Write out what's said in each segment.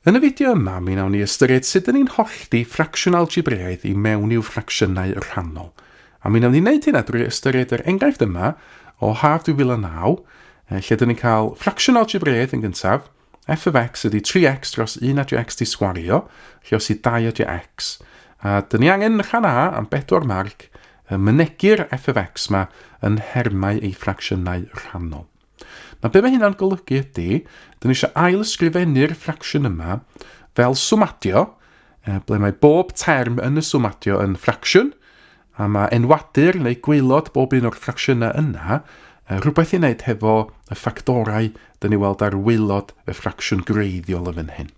Yn y fideo yma, mi wnawn ni ystyried sut dŷn ni'n hollti ffracsiwn algebreaidd i mewn i'w ffracsiynau rhannol. A mi wnawn ni wneud hynna drwy ystyried yr enghraifft yma o haf 2009, eh, lle dŷn ni'n cael ffracsiwn algebreaidd yn gyntaf, f of x ydy 3x dros 1 adio x di sgwario, lle os i 2 adio x. A dŷn ni angen yn rhan A am bedwar marc, y mynegi'r f of x yma yn nhermau ei ffracsiynau rhannol. Nawr be mae hynna'n golygu ydy, dyn ni eisiau ail ysgrifennu'r ffracsiwn yma fel swmadio, e, ble mae bob term yn y swmadio yn ffracsiwn, a mae enwadur neu gweilod bob un o'r ffracsiynau yna e, rhywbeth i wneud hefo y ffactorau dyn ni weld ar weilod y ffracsiwn greiddiol yn fan hyn.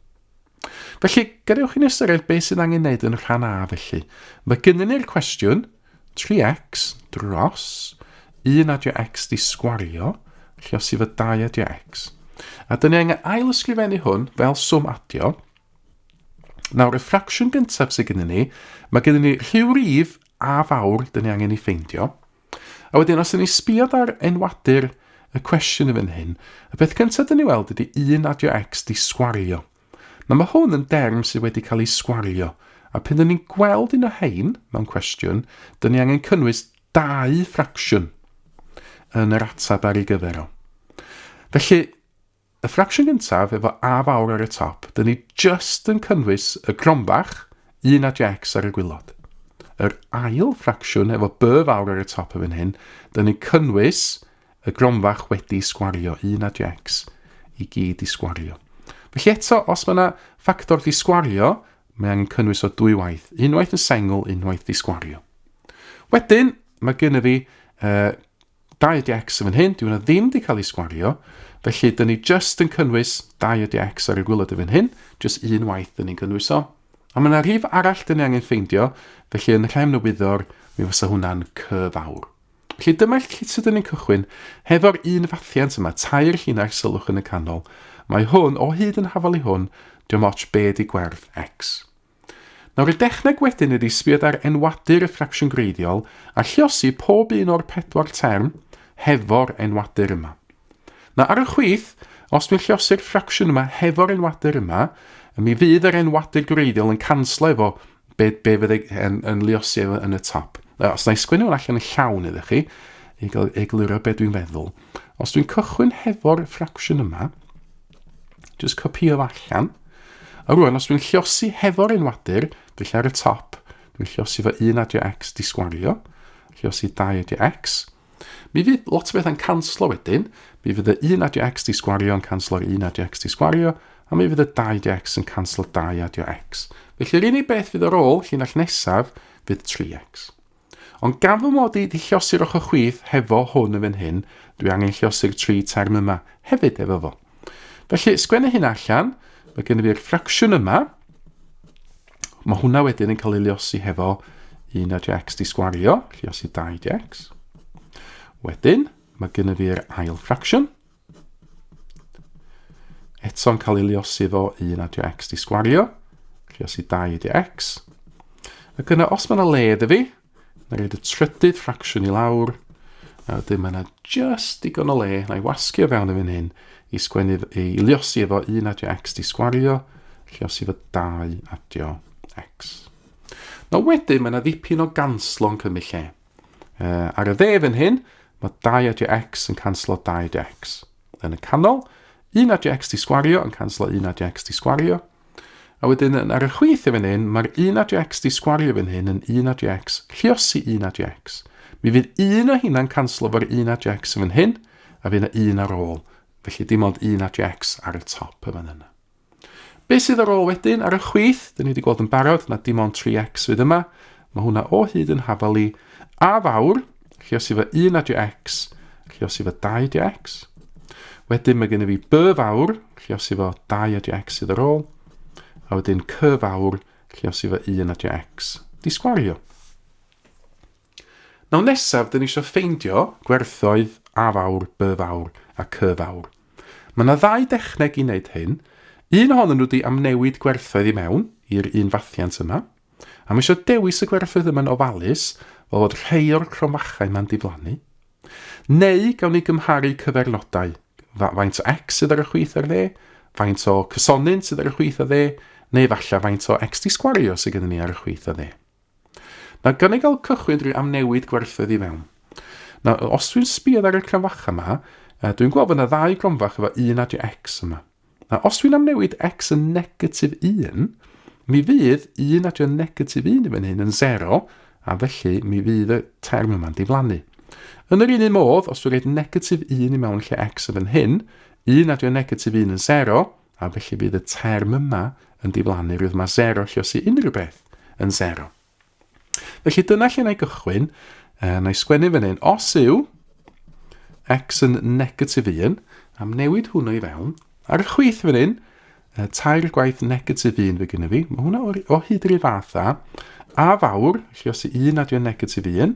Felly, gadewch i ni ystyried beth sydd angen wneud yn rhan A felly. Mae gynnu ni'r cwestiwn 3x dros 1 adio x di sgwario, lle os yw y 2 adio x. A dyn ni angen ail ysgrifennu hwn fel swm adio. Nawr, y ffracsiwn gyntaf sydd gynnu ni, mae gynnu ni rhyw rif a fawr dyn ni angen i ffeindio. A wedyn, os ydyn ni sbiod ar enwadur y cwestiwn yn fan hyn, y peth cyntaf dyn ni weld ydy un adio x di sgwario. Na mae hwn yn derm sydd wedi cael ei sgwario, a pan dyn ni'n gweld un o hein mewn cwestiwn, dyn ni angen cynnwys dau ffracsiwn yn yr atab ar ei gyfer o. Felly, Y ffracsiwn gyntaf efo A fawr ar y top, dyn ni just yn cynnwys y cronfach, un a jecs ar y gwylod. Yr ail ffracsiwn efo B fawr ar y top yn fan hyn, dyn ni'n cynnwys y gronfach wedi sgwario, un a jecs i gyd i sgwario. Felly eto, os mae yna ffactor di sgwario, mae angen cynnwys o dwy waith, unwaith yn sengl, unwaith di sgwario. Wedyn, mae gen i fi uh, Dau ydi X yn fan hyn, dyw hwnna ddim wedi cael ei sgwario, felly dyn ni just yn cynnwys dau ydi X ar y gwylod yn fan hyn, just un waith dyn ni'n cynnwys o. A mae yna rhif arall dyn ni angen ffeindio, felly yn rhemn y wyddor, mi fysa hwnna'n cyf awr. Felly dyma lle sydd yn ein cychwyn, hefo'r un fathiant yma, tair llinell sylwch yn y canol. Mae hwn, o hyd yn hafal i hwn, diolch ots be di gwerth x. Nawr y dechneg wedyn ydy sbiad ar enwadur y ffracsiwn greiddiol a lliosi pob un o'r pedwar term hefo'r enwadur yma. Na ar y chwith, os dwi'n lliosi'r ffracsiwn yma hefo'r enwadur yma, mi fydd yr enwadur greiddiol yn canslo efo be, be fydd yn, yn lliosi efo yn y top. Os na i sgwynnu hwn allan yn llawn iddo chi, i egluro beth dwi'n feddwl. Os dwi'n cychwyn hefo'r ffracsiwn yma, Just copio fo allan. A rwan, os dwi'n llosi hefo'r enwadur, felly ar y top, dwi'n llosi fo un adio x disgwario, llosi dau adio x, mi fydd lot o bethau'n canslo wedyn, mi fydd y un adio x disgwario yn canslo'r un adio x disgwario, a mi fydd y dau adio x yn canslo dau adio x. Felly'r unig beth fydd ar ôl llinell nesaf fydd 3x. Ond gan fy mod i 'di llosi'r ochr chwith hefo hwn yn fan hyn, dwi angen llosi'r tri term yma hefyd efo fo. Felly, sgwennu hyn allan, mae gen i fi'r ffracsiwn yma. Mae hwnna wedyn yn cael ei llosi hefo 1 a x di sgwario, llosi 2 x. Wedyn, mae gen i fi'r ail ffracsiwn, Eto'n cael ei liosi fo 1 adio x di sgwario. Liosi 2 adio x. Ac yna, os mae yna le iddo fi, na roed y trydydd ffracsiwn i lawr. A wedyn mae yna just digon o le, na i wasgu o fewn y fan hyn, i, sgwennu, i liosi efo 1 adio x di sgwario, liosi efo 2 adio x. Na wedyn mae yna ddipyn o ganslo'n cymryd lle. Uh, ar y dde fan hyn, mae 2 a dx yn canslo 2 dx. Yn y canol, 1 a dx di sgwario yn canslo 1 a dx di sgwario. A wedyn ar y chwith i fan hyn, mae'r 1 a dx di sgwario fan hyn yn 1 a dx lliosi 1 a dx. Mi fydd un o hynna'n canslo fo'r 1 a dx yn fan hyn, a fydd yna un ar ôl. Felly dim ond 1 a dx ar y top y fan yna. Be sydd ar ôl wedyn ar y chwith? Dyn ni wedi gweld yn barod na dim ond 3x fydd yma. Mae hwnna o hyd yn hafal i a fawr. Chi os i fy 1 adio x, chi os i fy 2 adio x. Wedyn mae gen i fi by fawr, chi os i fo 2 adio x sydd ar ôl. A wedyn cy fawr, chi os i fy 1 adio x. Di sgwario. Nawr nesaf dyn ni eisiau ffeindio gwerthoedd A fawr, B fawr a C fawr. Mae yna ddau dechneg i wneud hyn. Un ohonyn nhw di amnewid gwerthoedd i mewn i'r un fathiant yma. A mae eisiau dewis y gwerthoedd yma'n ofalus fel fod rhai o'r cromfachau yma'n diflannu. Neu gawn ni gymharu cyfernodau, faint o x sydd ar y chwith ar dde, faint o cysonyn sydd ar y chwith a dde, neu efallai faint o x di sgwario sydd gennym ni ar y chwith a dde. Na gynnig al cychwyn dri am newid gwerthoedd i fewn. Na, os dwi'n sbio ar y cronfacha yma, dwi'n gweld fod yna ddau gronfach efo un adio x yma. Na, os dwi'n amnewid x yn negatif 1, mi fydd un adio negatif 1 i fan hyn yn 0, a felly mi fydd y term yma'n diflannu. Yn yr un un modd, os dwi'n rhaid negatif 1 i mewn lle x yn fan hyn, un adio negatif 1 yn 0, A felly bydd y term yma yn diflannu rwydd mae sero lle os i unrhyw beth yn sero. Felly dyna lle na i gychwyn. Uh, na i sgwennu fan hyn. Os yw x yn negatif 1, am newid hwnnw i fewn, ar y chwith fan hyn, uh, tair gwaith negatif 1 fe gyda fi. Mae hwnna o, o hyd yr un fath a a fawr, lle os i 1 nad yw'n negatif 1,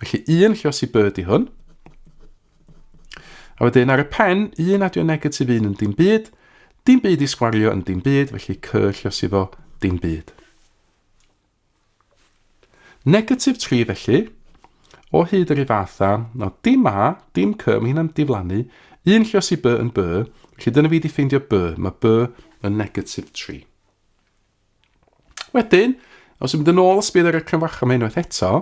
Felly un lle os i byd i hwn. A wedyn ar y pen, un adio negatif un yn dim byd, dim byd i sgwario yn dim byd, felly cy lle os iddo dim byd. Negatif 3 felly, o hyd yr ifatha, no dim a, dim cy, mae hynna'n diflannu, un lle os i by yn by, felly dyna fi wedi ffeindio by, mae by yn negatif 3. Wedyn, os ymwneud yn ôl ysbydd ar y cynfach am unwaith eto,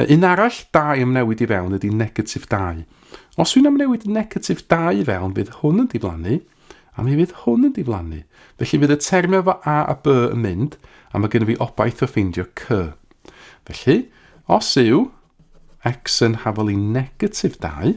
un arall da i ymwneud i fewn ydy negatif 2. Os wy'n ymwneud negatif 2 i fewn, fydd hwn yn diflannu, a mi fydd hwn yn diflannu. Felly fydd y termau efo A a B yn mynd, a mae gennym fi obaith o ffeindio C. Felly, os yw x yn hafol i negatif 2,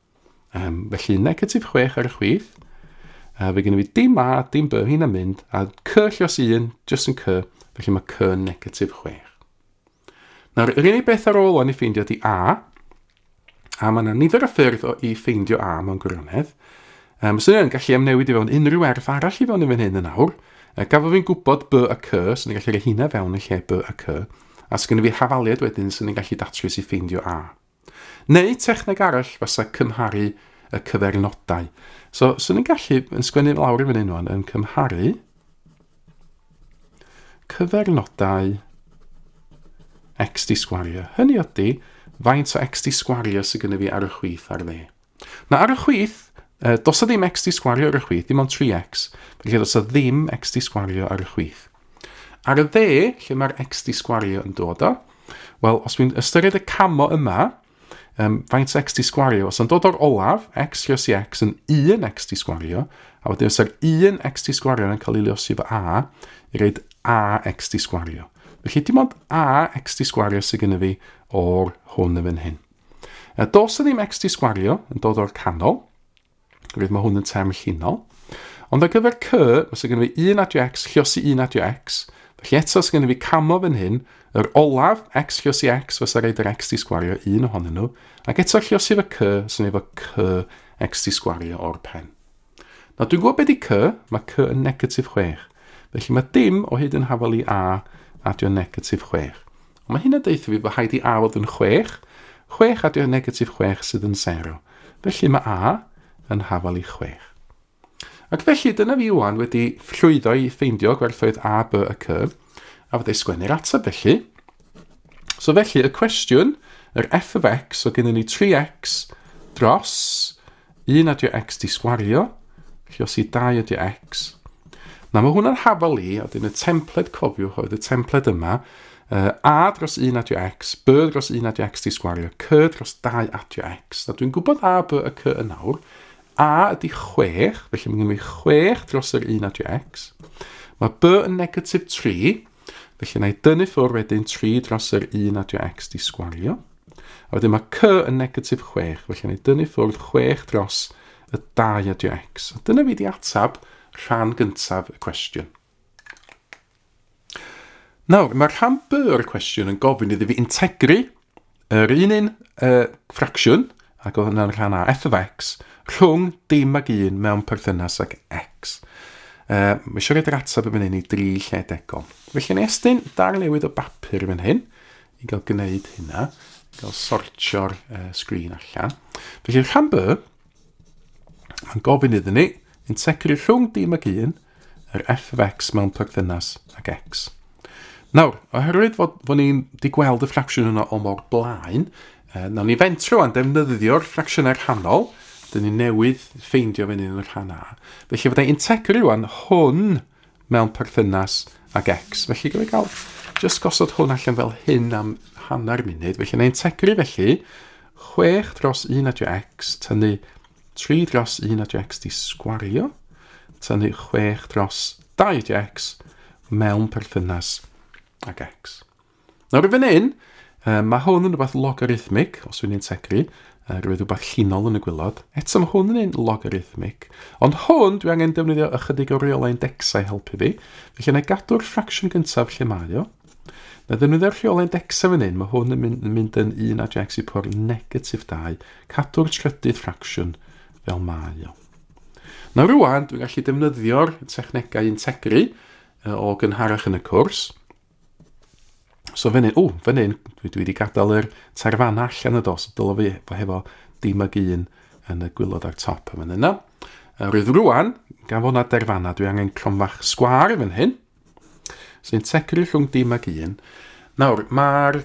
Um, felly negatif 6 ar y chwith. A fe gen i fi dim A, dim B, hyn yn mynd. A C lle os un, jyst yn C. Felly mae C yn negatif 6. Nawr, yr unig beth ar ôl o'n i ffeindio di A. A mae yna nifer o ffyrdd o i ffeindio A mewn gwirionedd. Um, os yna'n gallu amnewid i fewn unrhyw erth arall i fewn i fan hyn yn awr. Uh, gafo fi'n gwybod B a C, so ni'n gallu rhoi hynna fewn yn lle B a C. A sgynny fi hafaliad wedyn, so ni'n gallu datrys i ffeindio A. Neu techneg arall fasa cymharu y cyfernodau. So, swn i'n gallu, yn sgwennu lawr i fyny nhw'n, yn cymharu cyfernodau x di sgwario. Hynny ydy, faint o x di sgwario sydd gyda fi ar y chwith ar dde. Na, ar y chwith, uh, dos o ddim x di sgwario ar y chwith, dim ond 3x. Felly dos o ddim x di sgwario ar y chwith. Ar y dde, lle mae'r x di sgwario yn dod o, wel, os dwi'n ystyried y camo yma, um, faint x di sgwario, os o'n dod o'r olaf, x liosi x yn 1 x di sgwario, a wedyn os yr 1 x di sgwario yn cael ei liosi fo a, i reid a x di sgwario. Felly dim ond a x di sgwario sydd gen i fi o'r hwn yn fan hyn. A dos ddim XT sgwario yn dod o'r canol, rwydd mae hwn yn term llinol. Ond ar gyfer cy, mae sy'n gynnu fi 1 adio x, lliosi 1 adio x, felly eto sy'n gynnu fi camo fan hyn, yr olaf, x lliosi x, fysa reid yr xt sgwario un ohonyn nhw, ac eto lliosi fy cy, sy'n efo cy xt sgwario o'r pen. Na, dwi'n gwybod beth i cy, mae cy yn negatif 6. Felly mae dim o hyd yn hafel i a adio negatif 6. Ond mae hyn yn deutha fi bod rhaid i A fod yn chwech, chwech a dio negatif chwech sydd yn sero. Felly mae A yn hafal i chwech. Ac felly dyna fi wan wedi llwyddo i ffeindio gwerthoedd A, B a C, a fydde sgwennu'r ateb felly. So felly y cwestiwn, yr f of x, so gennym ni 3x dros 1 a dio x di sgwario, chi os i 2 a dio x. Na, mae hwnna'n hafal i, a dyn y templed cofiwch oedd y templed yma, uh, a dros 1 a dio x, b dros 1 a dio x di sgwario, c dros 2 a dio x. Na, dwi'n gwybod a, b a c yn awr. A ydy 6, felly mae gen i 6 dros yr 1 a dio x. Mae b yn negatif 3, Felly na i dynnu ffwrdd wedyn 3 dros yr 1 adio x di sgwario. A wedyn mae c yn negatif 6, felly na i dynnu ffwrdd 6 dros y 2 adio x. A dyna fi di atab rhan gyntaf y cwestiwn. Nawr, mae rhan B o'r cwestiwn yn gofyn iddi fi integru Yr un un y ffracsiwn, ac oedd hwnna'n rhan a f of x, rhwng dim ag un mewn perthynas ag x. Uh, mae eisiau rhaid yr ateb yn fan hyn i dri lle degol. Felly ni estyn dar newydd o bapur yn fan hyn i gael gwneud hynna, i gael sortio'r uh, sgrin allan. Felly rhan by, mae'n gofyn iddyn ni, yn tegru rhwng dim ag un, yr f of x mewn perthynas ag x. Nawr, oherwydd fod, fod ni'n di gweld y ffracsiwn yna o mor blaen, e, nawr ni fentro a'n defnyddio'r ffracsiynau rhannol, dyn ni newydd ffeindio fe yn y rhan A. Felly fydda i'n tegru rwan hwn mewn perthynas ag x. Felly gyda gael just gosod hwn allan fel hyn am hanner munud. Felly na i'n tegru felly 6 dros 1 adio x, tynnu 3 dros 1 a jecs di sgwario, tynnu 6 dros 2 jecs mewn perthynas ag x. Nawr i fan hyn, uh, mae hwn yn rhywbeth logarithmic, os wy'n integru, uh, rhywbeth rhywbeth llinol yn y gwylod. Eto mae hwn yn un logarithmic, ond hwn dwi angen defnyddio ychydig o reolau indexau helpu fi, felly yna gadw'r ffracsiwn gyntaf lle mae o, Na ddefnyddio'r rheolau dexa fan hyn, mae hwn yn mynd, yn mynd yn un a Jack Sipor negatif 2, cadw'r trydydd ffracsiwn fel mae o. Na rwan, dwi'n gallu defnyddio'r technegau integru o gynharach yn y cwrs. So fan hyn, o, fan hyn, dwi, dwi wedi gadael yr tarfanna allan y dos, dylo fi fo hefo dim ag un yn y gwylod ar top yn fan yna. Rwyf rwan, gan fod na derfanna, dwi angen cromfach sgwar fan hyn, Sy'n tegru rhwng dim ag un. Nawr, mae'r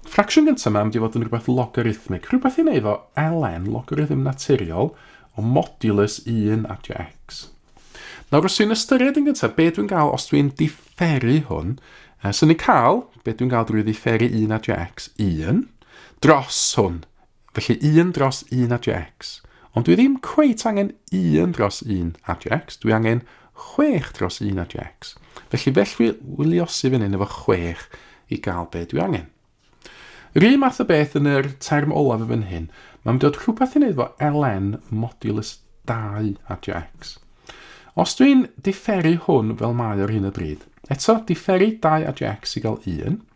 ffracsiwn gyntaf yma am di fod yn rhywbeth logarithmic, rhywbeth i wneud fo ln, logarithm naturiol, o modulus 1 at x. Nawr, os dwi'n ystyried yn gyntaf, be dwi'n gael os dwi'n differu hwn, uh, so ni'n cael, be dwi'n gael drwy ddifferu 1 at x, 1, dros hwn, Felly un dros un a jex. Ond dwi ddim cweit angen un dros un a jex, dwi angen chwech dros un a jex. Felly felly wyliosi fy hyn efo chwech i gael be dwi angen. Yr un math o beth yn yr term olaf y fan hyn, mae'n dod rhywbeth i wneud fo ln modulus 2 a jex. Os dwi'n diferu hwn fel mae ar hyn o bryd, eto diferu 2 a jex i gael 1,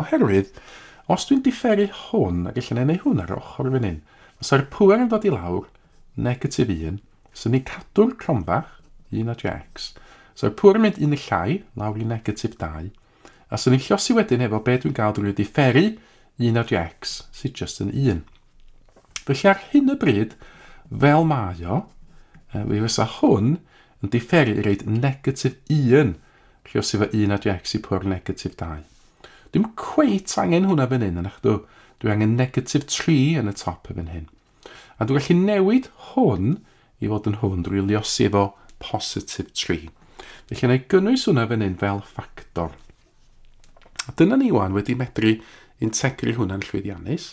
Oherwydd, os dwi'n diferu hwn ac ella na i wneud hwn ar yr ochr fan hyn, fysa'r pŵer yn dod i lawr, negatif 1, so ni'n cadw'r cronfach, 1 a jx, so'r pŵer yn mynd un y llai, lawr i negatif 2, a so ni'n llosi wedyn efo be dwi'n gael drwy diferu 1 a jx, sydd just yn 1. Felly ar hyn y bryd, fel mae o, fe fysa hwn yn diferu i reid negatif 1 Lle os efo un a dwi actually pwr negatif 2. Dwi'm cweit angen hwnna fan hyn, anach dw? Dwi angen negatif 3 yn y top efo'n hyn. A dwi gallu newid hwn i fod yn hwn drwy liosi efo positif 3. Felly yna i gynnwys hwnna fan hyn fel ffactor. A dyna ni wan wedi medru integru hwnna'n llwyddiannus.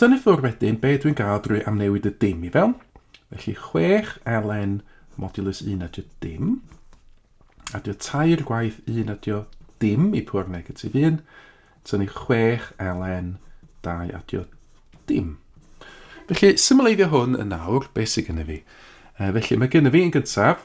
Tynnu ffwr wedyn be dwi'n gael drwy amnewid y dim i fewn. Felly 6 ln modulus 1 adio dim. Adio 3 gwaith 1 adio dim i pwr negatif 1. Tynnu 6 ln 2 adio dim. Felly, symleiddio hwn yn nawr, beth sydd gennym fi? felly, mae gennym fi yn gyntaf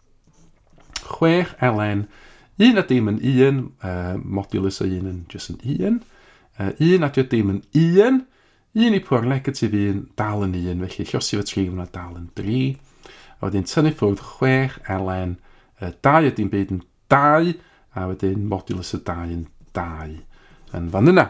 chwech elen, un a dim yn un, uh, modulus o un yn jyst yn un, uh, un a dim yn un, un i pwr negatif un, dal yn un, felly llosi fy tri hwnna dal yn dri, a wedyn tynnu ffwrdd chwech elen, uh, dau a dim byd yn dau, a wedyn modulus y dau yn dau yn fan yna.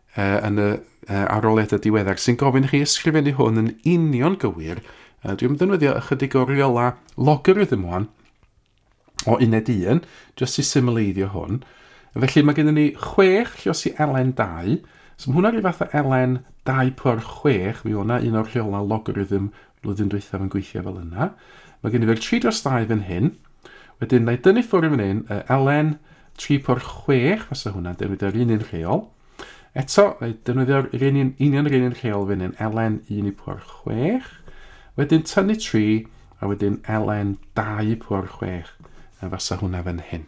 uh, yn y uh, aroliadau diweddar sy'n gofyn chi ysgrifennu hwn yn union gywir. Uh, dwi'n defnyddio ychydig o riola logarithm wan o uned 1, jyst i symleiddio hwn. Felly mae gennym ni 6 llios i elen 2, so mae hwnna rhyw fath o elen 2 por 6, mi o'na un o'r rhiola logarithm flwyddyn dwythaf yn gweithio fel yna. Mae gennym ni'r 3 dros 2 fan hyn, Wedyn na i dynnu ffwrdd fan hyn, y Elen 3 por 6, fasa hwnna'n defnyddio'r un un rheol. Eto, na i defnyddio'r un un, union yr un un rheol fan hyn, Elen 1 i por 6. Wedyn tynnu 3, a wedyn Elen 2 por 6, a fasa hwnna fan hyn.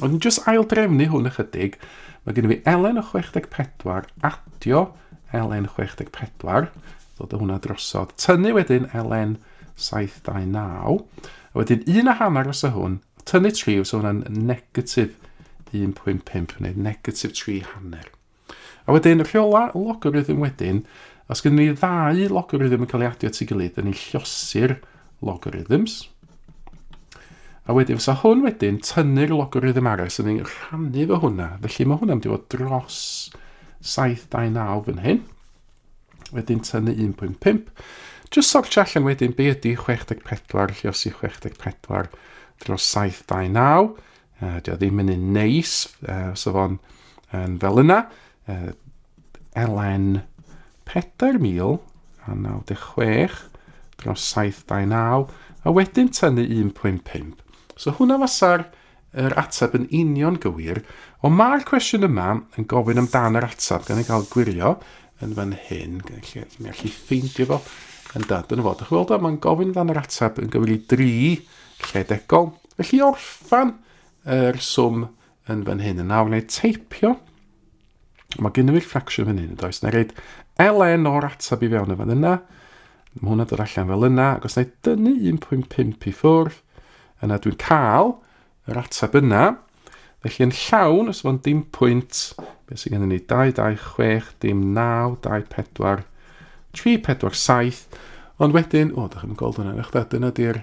Ond yn jyst ail drefnu hwn ychydig, mae gen i fi Elen o 64, adio Elen 64, ddod o hwnna drosodd, tynnu wedyn Elen 729, a wedyn un a hanner os o hwn, tynnu 3, so hwnna'n negatif 1.5, neu negatif 3 hanner. A wedyn rheola logarithm wedyn, os gynnu ni ddau logarithm yn cael ei adio at ei gilydd, yn ei llosir logarithms. A wedyn fysa hwn wedyn tynnu'r logarithm arall sy'n ei rhannu fo hwnna. Felly mae hwnna'n mynd i fod dros 729 fan hyn. Wedyn tynnu 1.5. Just sortio allan wedyn be ydy 64 lliosi 64 dros 729. Uh, Dio ddim yn un neis, uh, so fo'n yn fel yna. Uh, LN 4096 dros 729 a wedyn tynnu 1.5. So hwnna fasa'r er ateb yn union gywir, ond mae'r cwestiwn yma yn gofyn amdan yr ateb gan ei gael gwirio yn fan hyn, lle mi allai ffeindio fo yn dad yn y fod. Ych weld o, mae'n gofyn amdan yr ateb yn gywir i dri lle degol, Felly orffan yr swm yn fan hyn. Yn awr neu teipio. Mae gen i'r ffracsiwn fan hyn, does? Na reid ln o'r atab i fewn y fan yna. Mae hwnna dod allan fel yna. Ac os na i dynnu 1.5 i ffwrdd, yna dwi'n cael yr atab yna. Felly yn llawn, os fo'n dim pwynt, beth sy'n gen i ni? 2, 2, 6, dim 9, 2, 4, 3, 4, 7. Ond wedyn, o, da chi'n gweld hwnna, eich da, dyna di'r